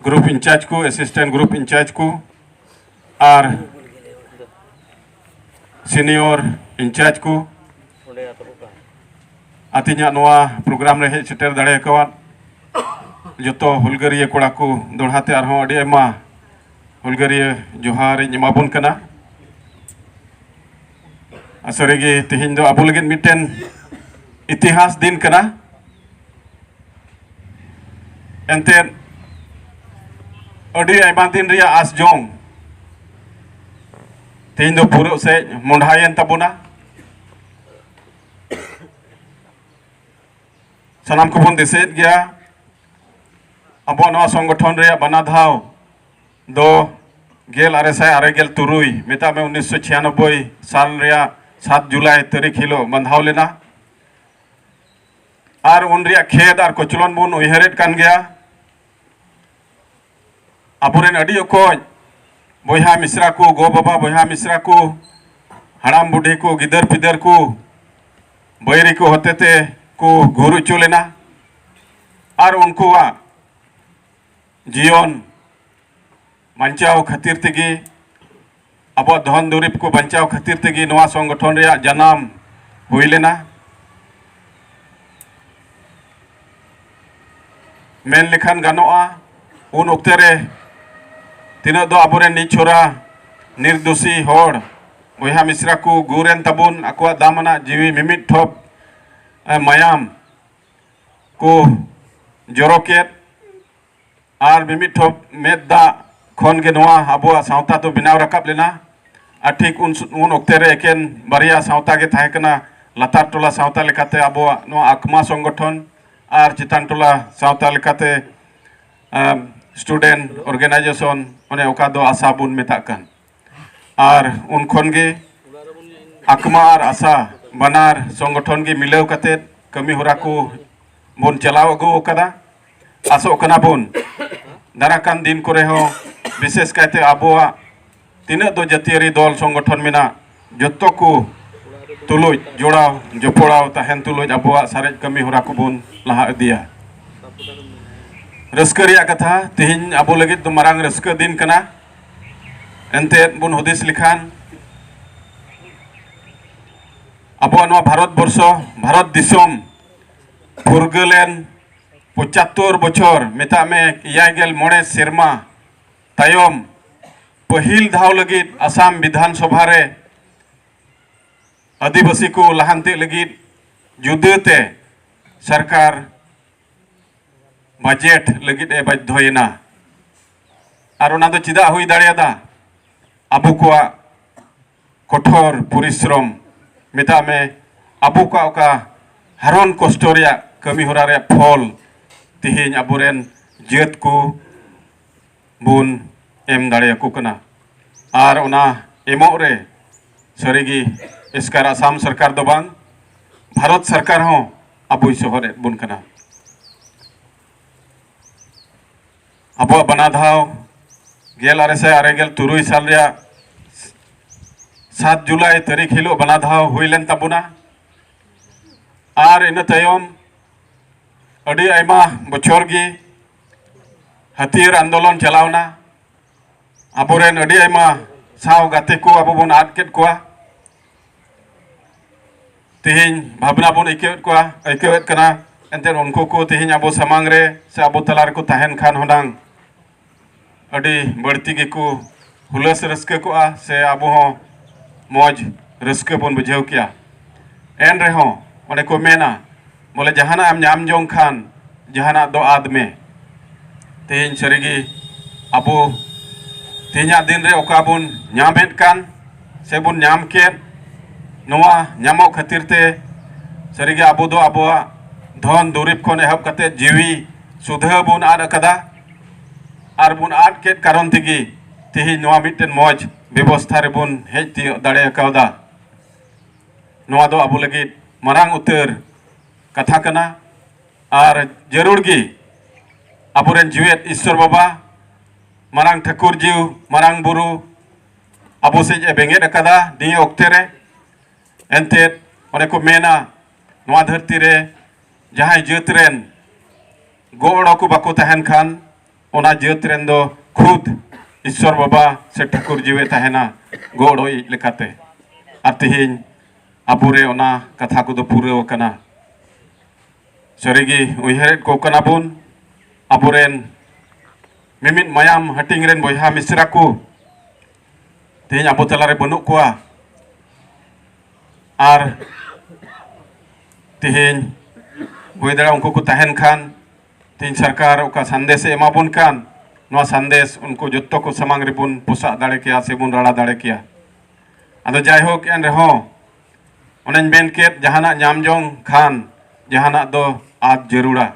group incharge ᱠᱚ assistant group incharge ᱠᱚ ᱟᱨ senior in charge ᱠᱚ ᱟᱛᱤᱧᱟᱜ ᱱᱚᱣᱟ ᱯᱨᱳᱜᱨᱟᱢ ᱨᱮ ᱦᱮᱡ ᱥᱮᱴᱮᱨ ᱫᱟᱲᱮ ᱟᱠᱟᱣᱟᱫ ᱡᱚᱛᱚ ᱦᱩᱞᱜᱟᱹᱨᱤᱭᱟᱹ ᱠᱚᱲᱟ ᱠᱚ ᱫᱚᱲᱦᱟ ᱛᱮ ᱟᱨᱦᱚᱸ ᱟᱹᱰᱤ ᱟᱭᱢᱟ ᱦᱩᱞᱜᱟᱹᱨᱤᱭᱟᱹ ᱡᱚᱦᱟᱨᱤᱧ ᱮᱢᱟᱵᱚᱱ ᱠᱟᱱᱟ ᱥᱟᱹᱨᱤ ᱜᱮ ᱛᱮᱦᱮᱧ ᱫᱚ ᱟᱵᱚ ᱞᱟᱹᱜᱤᱫ ᱢᱤᱫᱴᱮᱱ ᱤᱛᱤᱦᱟᱥ ᱫᱤᱱ ᱠᱟᱱᱟ ᱮᱱᱛᱮᱫ ᱟᱹᱰᱤ ᱟᱭᱢᱟ ᱫᱤᱱ ᱨᱮᱭᱟᱜ ᱟᱥ ᱡᱚᱢ ᱛᱮᱦᱮᱧ ᱫᱚ ᱯᱩᱨᱟᱹᱜ ᱥᱮᱡ ᱢᱚᱸᱰᱷᱟᱭᱮᱱ ᱛᱟᱵᱚᱱᱟ ᱥᱟᱱᱟᱢ ᱠᱚᱵᱚᱱ ᱫᱤᱥᱟᱹᱭᱮᱫ ᱜᱮᱭᱟ ᱟᱵᱚᱣᱟᱜ ᱱᱚᱣᱟ ᱥᱚᱝᱜᱚᱴᱷᱚᱱ ᱨᱮᱭᱟᱜ ᱵᱟᱱᱟ ᱫᱷᱟᱣ ᱫᱚ ᱜᱮᱞ ᱟᱨᱮ ᱥᱟᱭ ᱟᱨᱮ ᱜᱮᱞ ᱛᱩᱨᱩᱭ ᱢᱮᱛᱟᱜ ᱢᱮ ᱩᱱᱤᱥᱥᱚ ᱪᱷᱤᱭᱟᱱᱚᱵᱵᱳᱭ ᱥᱟᱞ ᱨᱮᱭᱟᱜ ᱥᱟᱛ ᱡᱩᱞᱟᱭ ᱛᱟᱹᱨᱤᱠᱷ ᱦᱤᱞᱳᱜ ᱵᱟᱸᱫᱷᱟᱣ ᱞᱮᱱᱟ ᱟᱨ ᱩᱱ ᱨᱮᱭᱟᱜ ᱠᱷᱮᱫ ᱟᱨ ᱠᱚᱪᱞᱚᱱ ᱵᱚᱱ ᱩᱭᱦᱟᱹᱨᱮᱫ ᱠᱟᱱ ᱜᱮᱭᱟ ᱟᱵᱚᱨᱮᱱ ᱟᱹᱰᱤ ᱚᱠᱚᱡ ᱵᱚᱭᱦᱟ ᱢᱤᱥᱨᱟ ᱠᱚ ᱜᱚ ᱵᱟᱵᱟ ᱵᱚᱭᱦᱟ ᱢᱤᱥᱨᱟ ᱠᱚ ᱦᱟᱲᱟᱢ ᱵᱩᱰᱷᱤ ᱠᱚ ᱜᱤᱫᱟᱹᱨ ᱯᱤᱫᱟᱹᱨ ᱠᱚ ᱵᱟᱹᱭᱨᱤ ᱠᱚ ᱦᱚᱛᱮᱛᱮ ᱠᱚ ᱜᱩᱨ ᱦᱚᱪᱚ ᱞᱮᱱᱟ ᱟᱨ ᱩᱱᱠᱩᱣᱟᱜ ᱡᱤᱭᱚᱱ ᱵᱟᱧᱪᱟᱣ ᱠᱷᱟᱹᱛᱤᱨ ᱛᱮᱜᱮ ᱟᱵᱚᱣᱟᱜ ᱫᱷᱚᱱ ᱫᱩᱨᱤᱵ ᱠᱚ ᱵᱟᱧᱪᱟᱣ ᱠᱷᱟᱹᱛᱤᱨ ᱛᱮᱜᱮ ᱱᱚᱣᱟ ᱥᱚᱝᱜᱚᱴᱷᱚᱱ ᱨᱮᱭᱟᱜ ᱡᱟᱱᱟᱢ ᱦᱩᱭ ᱞᱮᱱᱟ ᱢᱮᱱ ᱞᱮᱠᱷᱟᱱ ᱜᱟᱱᱚᱜᱼᱟ ᱩᱱ ᱚᱠᱛᱮ ᱨᱮ ᱛᱤᱱᱟᱹᱜ ᱫᱚ ᱟᱵᱚᱨᱮᱱ ᱱᱤᱪᱷᱚᱨᱟ ᱱᱤᱨᱫᱳᱥᱤ ᱦᱚᱲ ᱵᱚᱭᱦᱟ ᱢᱤᱥᱨᱟ ᱠᱚ ᱜᱩᱨᱮᱱ ᱛᱟᱵᱚᱱ ᱟᱠᱚᱣᱟᱜ ᱫᱟᱢᱟᱱᱟᱜ ᱡᱤᱣᱤ ᱢᱤᱢᱤᱫ ᱴᱷᱚᱯ ᱢᱟᱭᱟᱢ ᱠᱚ ᱡᱚᱨᱚ ᱠᱮᱫ ᱟᱨ ᱢᱤᱢᱤᱫ ᱴᱷᱚᱯ ᱢᱮᱫ ᱫᱟᱜ ᱠᱷᱚᱱ ᱜᱮ ᱱᱚᱣᱟ ᱟᱵᱚᱣᱟᱜ ᱥᱟᱶᱛᱟ ᱫᱚ ᱵᱮᱱᱟᱣ ᱨᱟᱠᱟᱵ ᱞᱮᱱᱟ ᱟᱨ ᱴᱷᱤᱠ ᱩᱱ ᱩᱱ ᱚᱠᱛᱮ ᱨᱮ ᱮᱠᱮᱱ ᱵᱟᱨᱭᱟ ᱥᱟᱶᱛᱟ ᱜᱮ ᱛᱟᱦᱮᱸ ᱠᱟᱱᱟ ᱞᱟᱛᱟᱨ ᱴᱚᱞᱟ ᱥᱟᱶᱛᱟ ᱞᱮᱠᱟᱛᱮ ᱟᱵᱚᱣᱟᱜ ᱱᱚᱣᱟ ᱟᱠᱢᱟ ᱥᱚᱝᱜᱚᱴᱷᱚᱱ ᱟᱨ ᱪᱮᱛᱟᱱ ᱴᱚᱞᱟ ᱥᱟᱶᱛᱟ ᱞᱮᱠᱟᱛᱮ ᱥᱴᱩᱰᱮᱱᱴ ᱚᱨᱜᱟᱱᱟᱭᱡᱮᱥᱚᱱ ᱚᱱᱮ ᱚᱠᱟ ᱫᱚ ᱟᱥᱟ ᱵᱚᱱ ᱢᱮᱛᱟᱜ ᱠᱟᱱ ᱟᱨ ᱩᱱ ᱠᱷᱚᱱ ᱜᱮ ᱟᱠᱢᱟ ᱟᱨ ᱟᱥᱟ ᱵᱟᱱᱟᱨ ᱥᱚᱝᱜᱚᱴᱷᱚᱱ ᱜᱮ ᱢᱤᱞᱟᱹᱣ ᱠᱟᱛᱮ ᱠᱟᱹᱢᱤ ᱦᱚᱨᱟ ᱠᱚ ᱵᱚᱱ ᱪᱟᱞᱟᱣ ᱟᱹᱜᱩ ᱟᱠᱟᱫᱟ ᱟᱥᱚᱜ ᱠᱟᱱᱟ ᱵᱚᱱ ᱫᱟᱨᱟ ᱠᱟᱱ ᱫᱤᱱ ᱠᱚᱨᱮ ᱦᱚᱸ ᱵᱤᱥᱮᱥ ᱠᱟᱭᱛᱮ ᱟᱵᱚᱣᱟᱜ ᱛᱤᱱᱟᱹᱜ ᱫᱚ ᱡᱟᱹᱛᱤᱭᱟᱹᱨᱤ ᱫᱚᱞ ᱥᱚᱝᱜᱚᱴᱷᱚᱱ ᱢᱮᱱᱟᱜ ᱡᱚᱛᱚ ᱠᱚ ᱛᱩᱞᱩᱡ ᱡᱚᱲᱟᱣ ᱡᱚᱯᱚᱲᱟᱣ ᱛᱟᱦᱮᱱ ᱛᱩᱞᱩᱡ ᱟᱵᱚᱣᱟᱜ ᱥᱟᱨᱮᱡ ᱠᱟᱹᱢᱤ ᱦᱚᱨᱟ ᱠᱚᱵᱚᱱ ᱞᱟᱦᱟ ᱤᱫᱤᱭᱟ ᱨᱟᱹᱥᱠᱟᱹ ᱨᱮᱭᱟᱜ ᱠᱟᱛᱷᱟ ᱛᱮᱦᱮᱧ ᱟᱵᱚ ᱞᱟᱹᱜᱤᱫ ᱫᱚ ᱢᱟᱨᱟᱝ ᱨᱟᱹᱥᱠᱟᱹ ᱫᱤᱱ ᱠᱟᱱᱟ ᱮᱱᱛᱮᱫ ᱵᱚᱱ ᱦᱩᱫᱤᱥ ᱞᱮᱠᱷᱟᱱ ᱟᱵᱚᱣᱟᱜ ᱱᱚᱣᱟ ᱵᱷᱟᱨᱚᱛ ᱵᱚᱨᱥᱚ ᱵᱷᱟᱨᱚᱛ ᱫᱤᱥᱚᱢ ᱯᱷᱩᱨᱜᱟᱹᱞᱮᱱ ᱯᱚᱸᱪᱟᱛᱛᱳᱨ ᱵᱚᱪᱷᱚᱨ ᱢᱮᱛᱟᱜ ᱢᱮ ᱮᱭᱟᱭ ᱜᱮᱞ ᱢᱚᱬᱮ ᱥᱮᱨᱢᱟ ᱛᱟᱭᱚᱢ ᱯᱟᱹᱦᱤᱞ ᱫᱷᱟᱣ ᱞᱟᱹᱜᱤᱫ ᱟᱥᱟᱢ ᱵᱤᱫᱷᱟᱱ ᱥᱚᱵᱷᱟ ᱨᱮ ᱟᱹᱫᱤᱵᱟᱹᱥᱤ ᱠᱚ ᱞᱟᱦᱟᱱᱛᱤ ᱞᱟᱹᱜᱤᱫ ᱡᱩᱫᱟᱹᱛᱮ ᱥᱚᱨᱠᱟᱨ ᱵᱟᱡᱮᱴ ᱞᱟᱹᱜᱤᱫ ᱮ ᱵᱟᱫᱽᱫᱷᱚᱭᱮᱱᱟ ᱟᱨ ᱚᱱᱟ ᱫᱚ ᱪᱮᱫᱟᱜ ᱦᱩᱭ ᱫᱟᱲᱮᱭᱟᱫᱟ ᱟᱵᱚ ᱠᱚᱣᱟᱜ ᱠᱚᱴᱷᱚᱨ ᱯᱚᱨᱤᱥᱨᱚᱢ ᱢᱮᱛᱟᱜ ᱢᱮ ᱟᱵᱚ ᱠᱚᱣᱟᱜ ᱚᱠᱟ ᱦᱟᱨᱚᱱ ᱠᱚᱥᱴᱚ ᱨᱮᱭᱟᱜ ᱠᱟᱹᱢᱤ ᱦᱚᱨᱟ ᱨᱮᱭᱟᱜ ᱯᱷᱚᱞ ᱛᱮᱦᱮᱧ ᱟᱵᱚᱨᱮᱱ ᱡᱟᱹᱛ ᱠᱚ ᱵᱚᱱ ᱮᱢ ᱫᱟᱲᱮᱭᱟᱠᱚ ᱠᱟᱱᱟ ᱟᱨ ᱚᱱᱟ ᱮᱢᱚᱜ ᱨᱮ ᱥᱟᱹᱨᱤᱜᱮ ᱮᱥᱠᱟᱨ ᱟᱥᱟᱢ ᱥᱚᱨᱠᱟᱨ ᱫᱚ ᱵᱟᱝ ᱵᱷᱟᱨᱚᱛ ᱥᱚᱨᱠᱟᱨ ᱦᱚᱸ ᱟᱵᱚᱭ ᱥᱚᱦᱚᱫ ᱮᱫ ᱵᱚᱱ ᱠᱟᱱᱟ ᱟᱵᱚᱣᱟᱜ ᱵᱟᱱᱟ ᱫᱷᱟᱣ ᱜᱮᱞ ᱟᱨᱮ ᱥᱟᱭ ᱟᱨᱮ ᱜᱮᱞ ᱛᱩᱨᱩᱭ ᱥᱟᱞ ᱨᱮᱭᱟᱜ ᱥᱟᱛ ᱡᱩᱞᱟᱭ ᱛᱟᱹᱨᱤᱠᱷ ᱦᱤᱞᱳᱜ ᱵᱟᱱᱟ ᱫᱷᱟᱣ ᱦᱩᱭ ᱞᱮᱱ ᱛᱟᱵᱚᱱᱟ ᱟᱨ ᱤᱱᱟᱹ ᱛᱟᱭᱚᱢ ᱟᱹᱰᱤ ᱟᱭᱢᱟ ᱵᱚᱪᱷᱚᱨ ᱜᱮ ᱦᱟᱹᱛᱤᱭᱟᱹᱨ ᱟᱱᱫᱳᱞᱚᱱ ᱪᱟᱞᱟᱣᱱᱟ ᱟᱵᱚᱨᱮᱱ ᱟᱹᱰᱤ ᱟᱭᱢᱟ ᱥᱟᱶ ᱜᱟᱛᱮ ᱠᱚ ᱟᱵᱚ ᱵᱚᱱ ᱟᱫ ᱠᱮᱫ ᱠᱚᱣᱟ ᱛᱮᱦᱮᱧ ᱵᱷᱟᱵᱽᱱᱟ ᱵᱚᱱ ᱟᱹᱭᱠᱟᱹᱣᱮᱫ ᱠᱚᱣᱟ ᱟᱹᱭᱠᱟᱹᱣᱮᱫ ᱠᱟᱱᱟ ᱮᱱᱛᱮᱫ ᱩᱱᱠᱩ ᱠᱚ ᱛᱮᱦᱮᱧ ᱟᱵᱚ ᱥᱟᱢᱟᱝ ᱨᱮ ᱥᱮ ᱟᱵᱚ ᱛᱟᱞᱟ ᱨᱮᱠᱚ ᱛᱟᱦᱮᱱ ᱠᱷᱟᱱ ᱦᱩᱱᱟᱝ ᱟᱹᱰᱤ ᱵᱟᱹᱲᱛᱤ ᱜᱮᱠᱚ ᱦᱩᱞᱟᱹᱥ ᱨᱟᱹᱥᱠᱟᱹ ᱠᱚᱜᱼᱟ ᱥᱮ ᱟᱵᱚ ᱦᱚᱸ ᱢᱚᱡᱽ ᱨᱟᱹᱥᱠᱟᱹ ᱵᱚᱱ ᱵᱩᱡᱷᱟᱹᱣ ᱠᱮᱭᱟ ᱮᱱ ᱨᱮᱦᱚᱸ ᱚᱱᱮ ᱠᱚ ᱢᱮᱱᱟ ᱵᱚᱞᱮ ᱡᱟᱦᱟᱱᱟᱜ ᱮᱢ ᱧᱟᱢ ᱡᱚᱝ ᱠᱷᱟᱱ ᱡᱟᱦᱟᱱᱟᱜ ᱫᱚ ᱟᱫ ᱢᱮ ᱛᱮᱦᱮᱧ ᱥᱟᱹᱨᱤᱜᱮ ᱟᱵᱚ ᱛᱮᱦᱮᱧᱟᱜ ᱫᱤᱱ ᱨᱮ ᱚᱠᱟ ᱵᱚᱱ ᱧᱟᱢᱮᱫ ᱠᱟᱱ ᱥᱮ ᱵᱚᱱ ᱧᱟᱢ ᱠᱮᱫ ᱱᱚᱣᱟ ᱧᱟᱢᱚᱜ ᱠᱷᱟᱹᱛᱤᱨ ᱛᱮ ᱥᱟᱹᱨᱤᱜᱮ ᱟᱵᱚ ᱫᱚ ᱟᱵᱚᱣᱟᱜ ᱫᱷᱚᱱ ᱫᱩᱨᱤᱵᱽ ᱠᱷᱚᱱ ᱮᱦᱚᱵ ᱠᱟᱛᱮᱫ ᱡᱤᱣᱤ ᱥᱩᱫᱷᱟᱹ ᱵᱚᱱ ᱟᱫ ᱟᱠᱟᱫᱟ ᱟᱨ ᱵᱚᱱ ᱟᱫ ᱠᱮᱫ ᱠᱟᱨᱚᱱ ᱛᱮᱜᱮ ᱛᱮᱦᱮᱧ ᱱᱚᱣᱟ ᱢᱤᱫᱴᱮᱱ ᱢᱚᱡᱽ ᱵᱮᱵᱚᱥᱛᱷᱟ ᱨᱮᱵᱚᱱ ᱦᱮᱡ ᱛᱤᱭᱳᱜ ᱫᱟᱲᱮ ᱠᱟᱣᱫᱟ ᱱᱚᱣᱟ ᱫᱚ ᱟᱵᱚ ᱞᱟᱹᱜᱤᱫ ᱢᱟᱨᱟᱝ ᱩᱛᱟᱹᱨ ᱠᱟᱛᱷᱟ ᱠᱟᱱᱟ ᱟᱨ ᱡᱟᱹᱨᱩᱲ ᱜᱮ ᱟᱵᱚᱨᱮᱱ ᱡᱤᱣᱮᱫ ᱤᱥᱥᱚᱨ ᱵᱟᱵᱟ ᱢᱟᱨᱟᱝ ᱴᱷᱟᱹᱠᱩᱨ ᱡᱤᱣ ᱢᱟᱨᱟᱝ ᱵᱩᱨᱩ ᱟᱵᱚ ᱥᱮᱡ ᱮ ᱵᱮᱸᱜᱮᱫ ᱟᱠᱟᱫᱟ ᱱᱤᱭᱟᱹ ᱚᱠᱛᱮ ᱨᱮ ᱮᱱᱛᱮᱫ ᱚᱱᱮ ᱠᱚ ᱢᱮᱱᱟ ᱱᱚᱣᱟ ᱫᱷᱟᱹᱨᱛᱤ ᱨᱮ ᱡᱟᱦᱟᱸᱭ ᱡᱟᱹᱛ ᱨᱮᱱ ᱜᱚᱲᱚ ᱠᱚ ᱵᱟᱠᱚ ᱛᱟᱦᱮᱱ ᱠᱷᱟᱱ ᱚᱱᱟ ᱡᱟᱹᱛ ᱨᱮᱱ ᱫᱚ ᱠᱷᱩᱫ ᱤᱥᱥᱚᱨ ᱵᱟᱵᱟ ᱥᱮ ᱴᱷᱟᱹᱠᱩᱨ ᱡᱤᱣᱮ ᱛᱟᱦᱮᱱᱟ ᱜᱚᱲᱚ ᱤᱡ ᱞᱮᱠᱟᱛᱮ ᱟᱨ ᱛᱮᱦᱮᱧ ᱟᱵᱚᱨᱮ ᱚᱱᱟ ᱠᱟᱛᱷᱟ ᱠᱚᱫᱚ ᱯᱩᱨᱟᱹᱣ ᱟᱠᱟᱱᱟ ᱥᱟᱹᱨᱤᱜᱮ ᱩᱭᱦᱟᱹᱨᱮᱫ ᱠᱚ ᱠᱟᱱᱟ ᱵᱚᱱ ᱟᱵᱚᱨᱮᱱ ᱢᱤᱢᱤᱫ ᱢᱟᱭᱟᱢ ᱦᱟᱹᱴᱤᱧ ᱨᱮᱱ ᱵᱚᱭᱦᱟ ᱢᱤᱥᱨᱟ ᱠᱚ ᱛᱮᱦᱮᱧ ᱟᱵᱚ ᱛᱟᱞᱟᱨᱮ ᱵᱟᱹᱱᱩᱜ ᱠᱚᱣᱟ ᱟᱨ ᱛᱮᱦᱮᱧ ᱦᱩᱭ ᱫᱟᱲᱮᱭᱟᱜᱼᱟ ᱩᱱᱠᱩ ᱠᱚ ᱛᱟᱦᱮᱱ ᱠᱷᱟᱱ ᱛᱮᱦᱮᱧ ᱥᱚᱨᱠᱟᱨ ᱚᱠᱟ ᱥᱟᱸᱫᱮᱥᱮ ᱮᱢᱟᱵᱚᱱ ᱠᱟᱱ ᱱᱚᱣᱟ ᱥᱟᱸᱫᱮᱥ ᱩᱱᱠᱩ ᱡᱚᱛᱚ ᱠᱚ ᱥᱟᱢᱟᱝ ᱨᱮᱵᱚᱱ ᱯᱚᱥᱟᱜ ᱫᱟᱲᱮ ᱠᱮᱭᱟ ᱥᱮᱵᱚᱱ ᱨᱟᱲᱟ ᱫᱟᱲᱮ ᱠᱮᱭᱟ ᱟᱫᱚ ᱡᱟᱭᱦᱳᱠ ᱮᱱ ᱨᱮᱦᱚᱸ ᱚᱱᱮᱧ ᱢᱮᱱ ᱠᱮᱫ ᱡᱟᱦᱟᱱᱟᱜ ᱧᱟᱢ ᱡᱚᱝ ᱠᱷᱟᱱ ᱡᱟᱦᱟᱱᱟᱜ ᱫᱚ ᱟᱫ ᱡᱟᱹᱨᱩᱲᱟ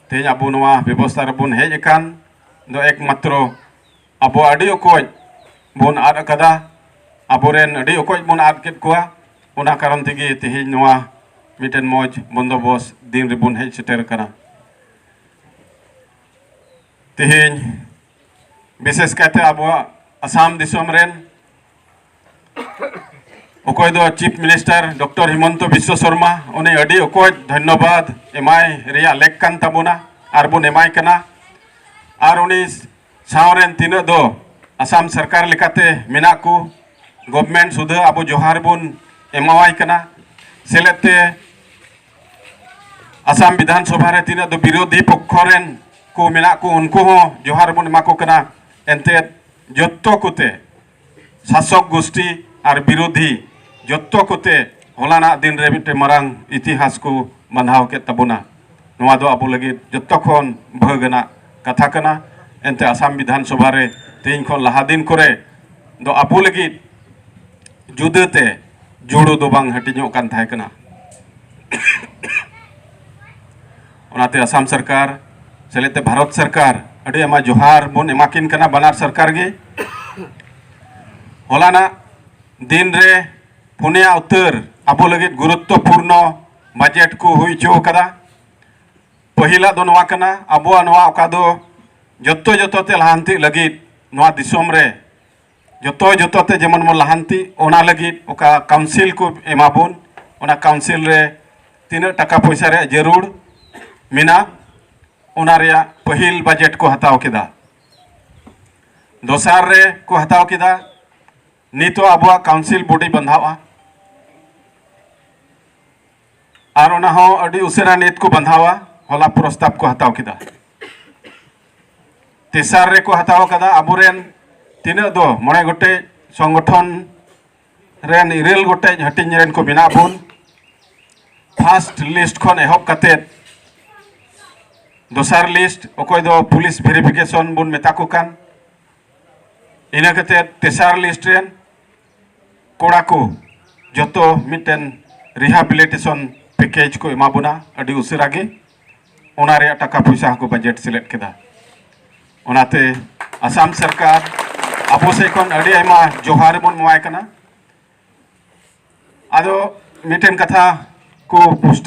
ᱛᱮᱦᱮᱧ ᱟᱵᱚ ᱱᱚᱣᱟ ᱵᱮᱵᱚᱥᱛᱷᱟ ᱨᱮᱵᱚᱱ ᱦᱮᱡ ᱟᱠᱟᱱ ᱫᱚ ᱮᱠᱢᱟᱛᱨᱚ ᱟᱵᱚ ᱟᱹᱰᱤ ᱚᱠᱚᱡ ᱵᱚᱱ ᱟᱫ ᱟᱠᱟᱫᱟ ᱟᱵᱚᱨᱮᱱ ᱟᱹᱰᱤ ᱚᱠᱚᱡ ᱵᱚᱱ ᱟᱫ ᱠᱮᱫ ᱠᱚᱣᱟ ᱚᱱᱟ ᱠᱟᱨᱚᱱ ᱛᱮᱜᱮ ᱛᱮᱦᱮᱧ ᱱᱚᱣᱟ ᱢᱤᱫᱴᱮᱱ ᱢᱚᱡᱽ ᱵᱚᱱᱫᱚᱵᱚᱥ ᱫᱤᱱ ᱨᱮᱵᱚᱱ ᱦᱮᱡ ᱥᱮᱴᱮᱨ ᱟᱠᱟᱱᱟ ᱛᱮᱦᱮᱧ ᱵᱤᱥᱮᱥ ᱠᱟᱭᱛᱮ ᱟᱵᱚᱣᱟᱜ ᱟᱥᱟᱢ ᱫᱤᱥᱚᱢ ᱨᱮᱱ ᱚᱠᱚᱭ ᱫᱚ chief minister doctor Himanta Biswa Sarma ᱩᱱᱤ ᱟᱹᱰᱤ ᱚᱠᱚᱡ ᱫᱷᱚᱱᱭᱚᱵᱟᱫ ᱮᱢᱟᱭ ᱨᱮᱭᱟᱜ ᱞᱮᱠ ᱠᱟᱱ ᱛᱟᱵᱚᱱᱟ ᱟᱨ ᱵᱚᱱ ᱮᱢᱟᱭ ᱠᱟᱱᱟ ᱟᱨ ᱩᱱᱤ ᱥᱟᱶᱨᱮᱱ ᱛᱤᱱᱟᱹᱜ ᱫᱚ ᱟᱥᱟᱢ ᱥᱚᱨᱠᱟᱨ ᱞᱮᱠᱟᱛᱮ ᱢᱮᱱᱟᱜ ᱠᱚ ᱜᱚᱵᱷᱢᱮᱱᱴ ᱥᱩᱫᱷᱟᱹ ᱟᱵᱚ ᱡᱚᱦᱟᱨ ᱵᱚᱱ ᱮᱢᱟᱣᱟᱭ ᱠᱟᱱᱟ ᱥᱮᱞᱮᱫ ᱛᱮ ᱟᱥᱟᱢ ᱵᱤᱫᱷᱟᱱ ᱥᱚᱵᱷᱟ ᱨᱮ ᱛᱤᱱᱟᱹᱜ ᱫᱚ ᱵᱤᱨᱳᱫᱷᱤ ᱯᱚᱠᱠᱷᱚ ᱨᱮᱱ ᱠᱚ ᱢᱮᱱᱟᱜ ᱠᱚ ᱩᱱᱠᱩ ᱦᱚᱸ ᱡᱚᱦᱟᱨ ᱵᱚᱱ ᱮᱢᱟ ᱠᱚ ᱠᱟᱱᱟ ᱮᱱᱛᱮᱫ ᱡᱚᱛᱚ ᱠᱚᱛᱮ ᱥᱟᱥᱚᱠ ᱜᱩᱥᱴᱤ ᱟᱨ ᱵᱤᱨᱳᱫᱷᱤ ᱡᱚᱛᱚ ᱠᱚᱛᱮ ᱦᱚᱞᱟᱱᱟᱜ ᱫᱤᱱ ᱨᱮ ᱢᱤᱫᱴᱮᱱ ᱢᱟᱨᱟᱝ ᱤᱛᱤᱦᱟᱥ ᱠᱚ ᱵᱟᱸᱫᱷᱟᱣ ᱠᱮᱫ ᱛᱟᱵᱚᱱᱟ ᱱᱚᱣᱟ ᱫᱚ ᱟᱵᱚ ᱞᱟᱹᱜᱤᱫ ᱡᱚᱛᱚ ᱠᱷᱚᱱ ᱵᱷᱟᱹᱜᱽ ᱟᱱᱟᱜ ᱠᱟᱛᱷᱟ ᱠᱟᱱᱟ ᱮᱱᱛᱮ ᱟᱥᱟᱢ ᱵᱤᱫᱷᱟᱱ ᱥᱚᱵᱷᱟ ᱨᱮ ᱛᱮᱦᱮᱧ ᱠᱷᱚᱱ ᱞᱟᱦᱟ ᱫᱤᱱ ᱠᱚᱨᱮ ᱫᱚ ᱟᱵᱚ ᱞᱟᱹᱜᱤᱫ ᱡᱩᱫᱟᱹ ᱛᱮ ᱡᱩᱲᱩ ᱫᱚ ᱵᱟᱝ ᱦᱟᱹᱴᱤᱧᱚᱜ ᱠᱟᱱ ᱛᱟᱦᱮᱸ ᱠᱟᱱᱟ ᱚᱱᱟᱛᱮ ᱟᱥᱟᱢ ᱥᱚᱨᱠᱟᱨ ᱥᱮᱞᱮᱫ ᱛᱮ ᱵᱷᱟᱨᱚᱛ ᱥᱚᱨᱠᱟᱨ ᱟᱹᱰᱤ ᱟᱭᱢᱟ ᱡᱚᱦᱟᱨ ᱵᱚᱱ ᱮᱢᱟ ᱠᱤᱱ ᱠᱟᱱᱟ ᱵᱟᱱᱟᱨ ᱥᱚᱨᱠᱟᱨ ᱜᱮ ᱦᱚᱞᱟᱱᱟᱜ ᱫᱤᱱ ᱨᱮ ᱯᱩᱱᱭᱟ ᱩᱛᱟᱹᱨ ᱟᱵᱚ ᱞᱟᱹᱜᱤᱫ ᱜᱩᱨᱩᱛᱛᱚᱯᱩᱨᱱᱚ ᱵᱟᱡᱮᱴ ᱠᱚ ᱦᱩᱭ ᱦᱚᱪᱚ ᱟᱠᱟᱫᱟ ᱯᱟᱹᱦᱤᱞᱟᱜ ᱫᱚ ᱱᱚᱣᱟ ᱠᱟᱱᱟ ᱟᱵᱚᱣᱟᱜ ᱱᱚᱣᱟ ᱚᱠᱟ ᱫᱚ ᱡᱚᱛᱚ ᱡᱚᱛᱚ ᱛᱮ ᱞᱟᱦᱟᱱᱛᱤ ᱞᱟᱹᱜᱤᱫ ᱱᱚᱣᱟ ᱫᱤᱥᱚᱢ ᱨᱮ ᱡᱚᱛᱚ ᱡᱚᱛᱚ ᱛᱮ ᱡᱮᱢᱚᱱ ᱵᱚᱱ ᱞᱟᱦᱟᱱᱛᱤ ᱚᱱᱟ ᱞᱟᱹᱜᱤᱫ ᱚᱠᱟ ᱠᱟᱣᱩᱱᱥᱤᱞ ᱠᱚ ᱮᱢᱟ ᱵᱚᱱ ᱚᱱᱟ ᱠᱟᱣᱩᱱᱥᱤᱞ ᱨᱮ ᱛᱤᱱᱟᱹᱜ ᱴᱟᱠᱟ ᱯᱚᱭᱥᱟ ᱨᱮᱭᱟᱜ ᱡᱟᱹᱨᱩᱲ ᱢᱮᱱᱟᱜ ᱚᱱᱟ ᱨᱮᱭᱟᱜ ᱯᱟᱹᱦᱤᱞ ᱵᱟᱡᱮᱴ ᱠᱚ ᱦᱟᱛᱟᱣ ᱠᱮᱫᱟ ᱫᱚᱥᱟᱨ ᱨᱮ ᱠᱚ ᱦᱟᱛᱟᱣ ᱠᱮᱫᱟ ᱱᱤᱛᱚᱜ ᱟᱵᱚᱣᱟᱜ ᱠᱟᱣᱩᱱᱥᱤᱞ ᱵᱚᱰᱤ ᱵᱟᱸᱫᱷᱟᱣᱼᱟ ᱟᱨ ᱚᱱᱟ ᱦᱚᱸ ᱟᱹᱰᱤ ᱩᱥᱟᱹᱨᱟ ᱱᱤᱛ ᱠᱚ ᱵᱟᱸᱫᱷᱟᱣᱟ ᱦᱚᱞᱟ ᱯᱨᱚᱥᱛᱟᱵ ᱠᱚ ᱦᱟᱛᱟᱣ ᱠᱮᱫᱟ ᱛᱮᱥᱟᱨ ᱨᱮᱠᱚ ᱦᱟᱛᱟᱣ ᱠᱟᱫᱟ ᱟᱵᱚᱨᱮᱱ ᱛᱤᱱᱟᱹᱜ ᱫᱚ ᱢᱚᱬᱮ ᱜᱚᱴᱮᱡ ᱥᱚᱝᱜᱚᱴᱷᱚᱱ ᱨᱮᱱ ᱤᱨᱟᱹᱞ ᱜᱚᱴᱮᱡ ᱦᱟᱹᱴᱤᱧ ᱨᱮᱱ ᱠᱚ ᱢᱮᱱᱟᱜ ᱵᱚᱱ ᱯᱷᱟᱥᱴ ᱞᱤᱥᱴ ᱠᱷᱚᱱ ᱮᱦᱚᱵ ᱠᱟᱛᱮᱫ ᱫᱚᱥᱟᱨ ᱞᱤᱥᱴ ᱚᱠᱚᱭ ᱫᱚ ᱯᱩᱞᱤᱥ ᱵᱷᱮᱨᱤᱯᱷᱤᱠᱮᱥᱚᱱ ᱵᱚᱱ ᱢᱮᱛᱟ ᱠᱚ ᱠᱟᱱ ᱤᱱᱟᱹ ᱠᱟᱛᱮᱫ ᱛᱮᱥᱟᱨ ᱞᱤᱥᱴ ᱨᱮᱱ ᱠᱚᱲᱟ ᱠᱚ ᱡᱚᱛᱚ ᱢᱤᱫᱴᱮᱱ ᱨᱤᱦᱟᱵᱤᱞᱤᱴᱮᱥᱚᱱ ᱯᱮᱠᱮᱡᱽ ᱠᱚ ᱮᱢᱟ ᱵᱚᱱᱟ ᱟᱹᱰᱤ ᱩᱥᱟᱹᱨᱟ ᱜᱮ ᱚᱱᱟ ᱨᱮᱭᱟᱜ ᱴᱟᱠᱟ ᱯᱚᱭᱥᱟ ᱦᱚᱸᱠᱚ ᱵᱟᱡᱮᱴ ᱥᱮᱞᱮᱫ ᱠᱮᱫᱟ ᱚᱱᱟᱛᱮ ᱟᱥᱟᱢ ᱥᱚᱨᱠᱟᱨ ᱟᱵᱚ ᱥᱮᱫ ᱠᱷᱚᱱ ᱟᱹᱰᱤ ᱟᱭᱢᱟ ᱡᱚᱦᱟᱨ ᱵᱚᱱ ᱮᱢᱟᱭ ᱠᱟᱱᱟ ᱟᱫᱚ ᱢᱤᱫᱴᱮᱱ ᱠᱟᱛᱷᱟ ᱠᱚ ᱯᱩᱥᱴᱟᱹᱣ